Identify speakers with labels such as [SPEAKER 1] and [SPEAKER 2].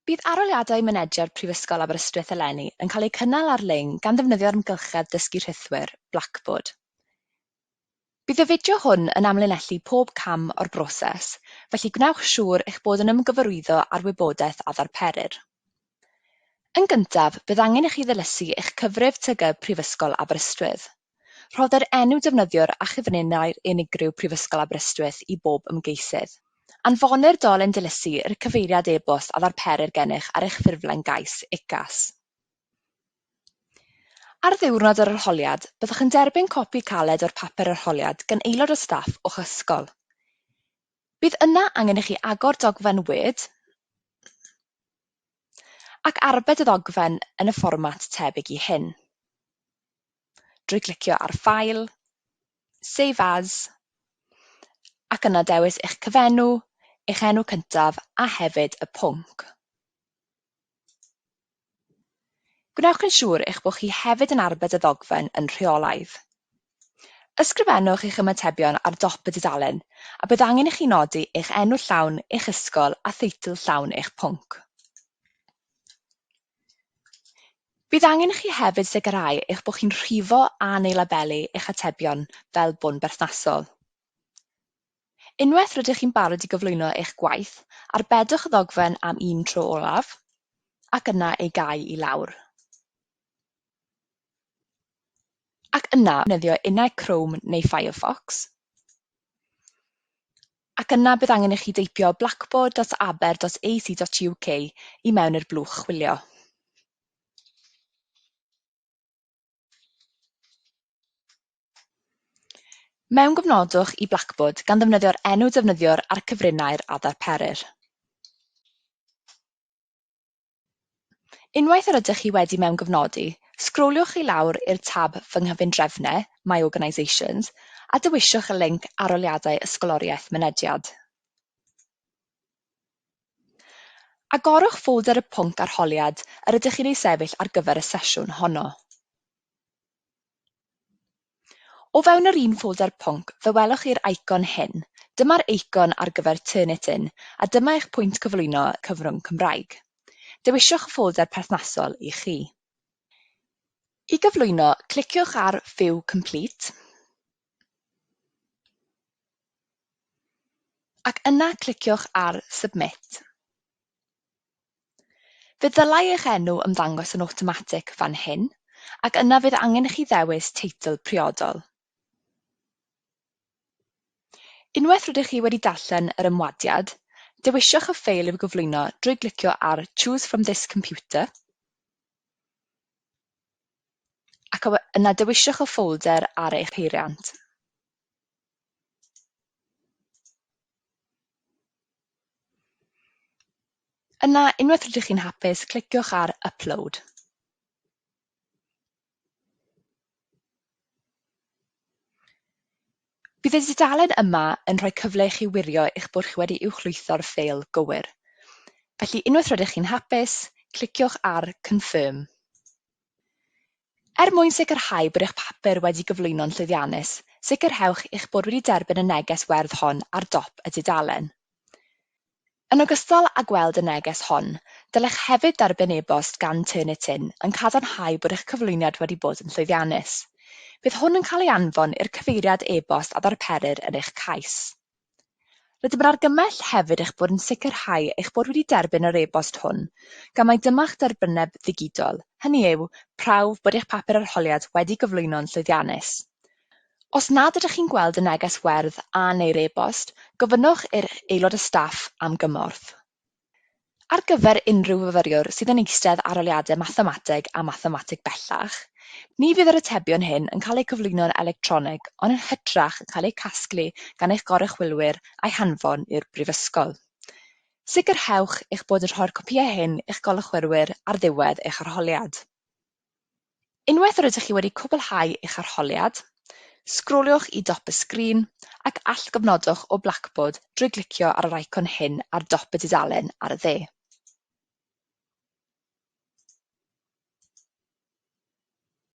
[SPEAKER 1] Bydd arholiadau mynediad Prifysgol Aberystwyth eleni yn cael eu cynnal ar-lein gan ddefnyddio'r amgylchedd dysgu rhithwir, Blackboard. Bydd y fideo hwn yn amlinellu pob cam o'r broses, felly gwnewch siŵr eich bod yn ymgyfarwyddo â'r wybodaeth a ddarperir. Yn gyntaf, bydd angen i chi ddilysu eich cyfrif TG Prifysgol Aberystwyth. Rhoddir enw defnyddiwr a chyfuniadau'r unigryw Prifysgol Aberystwyth i bob ymgeisydd. Anfonir dolen dilysu i'r cyfeiriad e-bost a ddarperir gennych ar eich ffurflen gais, UCAS. Ar ddiwrnod yr arholiad, byddwch yn derbyn copi caled o'r papur arholiad gan aelod o staff o'ch ysgol. Bydd yna angen i chi agor dogfen Word ac arbed y ddogfen yn y fformat tebyg i hyn. drwy glicio ar File, Save As, ac yna dewis eich cyfenw, eich enw cyntaf a hefyd y pwnc. Gwnewch yn siŵr eich bod chi hefyd yn arbed y ddogfen yn rheolaidd. Ysgrifennwch eich ymatebion ar dop y dudalen a bydd angen i chi nodi eich enw llawn, eich ysgol a theitl llawn eich pwnc. Bydd angen i chi hefyd sicrhau eich bod chi'n rhifo a neu labelu eich atebion fel bo'n berthnasol. Unwaith rydych chi'n barod i gyflwyno eich gwaith, arbedwch y ddogfen am un tro olaf, ac yna ei gau i lawr. ac yna defnyddio innau Chrome neu Firefox, ac yna bydd angen i chi deipio blackboard.aber.ac.uk i mewn i'r blwch chwilio. Mewngofnodwch i Blackboard gan ddefnyddio'r enw defnyddiwr a'r cyfrinair a ddarperir. Unwaith yr ydych chi wedi mewngyfnodi, sgroliwch i lawr i'r tab Fy Nghyfundrefnau, My Organisations, a dewiswch y linc Arholiadau Ysgoloriaeth Mynediad. Agorwch ffolder y pwnc arholiad yr ydych chi'n ei sefyll ar gyfer y sesiwn honno. O fewn yr un ffolder pwnc fe welwch chi'r eicon hyn. Dyma'r eicon ar gyfer Turnitin a dyma eich pwynt cyflwyno cyfrwng Cymraeg. Dewiswch y ffolder perthnasol i chi. I gyflwyno, cliciwch ar View Complete ac yna cliciwch ar Submit. Fe ddylai eich enw ymddangos yn awtomatig fan hyn, ac yna fydd angen i chi ddewis teitl priodol. Unwaith rydych chi wedi darllen yr ymwadiad, dewiswch y ffeil i'w gyflwyno drwy glicio ar Choose from this computer ac yna dewiswch y ffolder ar eich heiriant. Yna, unwaith rydych chi'n hapus, cliciwch ar Upload. Bydd y dudalen yma yn rhoi cyfle i chi wirio eich bod chi wedi uwchlwytho'r ffeil gywir. Felly, unwaith rydych chi'n hapus, cliciwch ar Confirm. Er mwyn sicrhau bod eich papur wedi gyflwyno'n llwyddiannus, sicrhewch eich bod wedi derbyn y neges werdd hon ar dop y dudalen. Yn ogystal â gweld y neges hon, dylech hefyd dderbyn e-bost gan Turnitin yn cadarnhau bod eich cyflwyniad wedi bod yn llwyddiannus. Bydd hwn yn cael ei anfon i'r cyfeiriad e-bost a ddarperir yn eich cais. Rydym yn argymell hefyd eich bod yn sicrhau eich bod wedi derbyn yr e-bost hwn, gan mai dyma'ch derbyneb ddigidol, hynny yw, prawf bod eich papur arholiad wedi gyflwyno'n llwyddiannus. Os nad ydych chi'n gweld y neges werdd a neu'r e-bost, gofynnwch i'r aelod o staff am gymorth. Ar gyfer unrhyw fyfyriwr sydd yn eistedd arholiadau Mathemateg a Mathemateg Bellach, ni fydd yr atebion hyn yn cael eu cyflwyno'n electronig ond yn hytrach yn cael eu casglu gan eich goruchwylwyr a'u hanfon i'r Brifysgol. Sicrhewch eich bod yn rhoi'r copïau hyn i'ch goruchwylwyr ar ddiwedd eich arholiad. Unwaith yr ydych chi wedi cwblhau eich arholiad, sgroliwch i dop y sgrin ac allgofnodwch o Blackboard drwy glicio ar yr eicon hyn ar dop y dudalen ar y dde.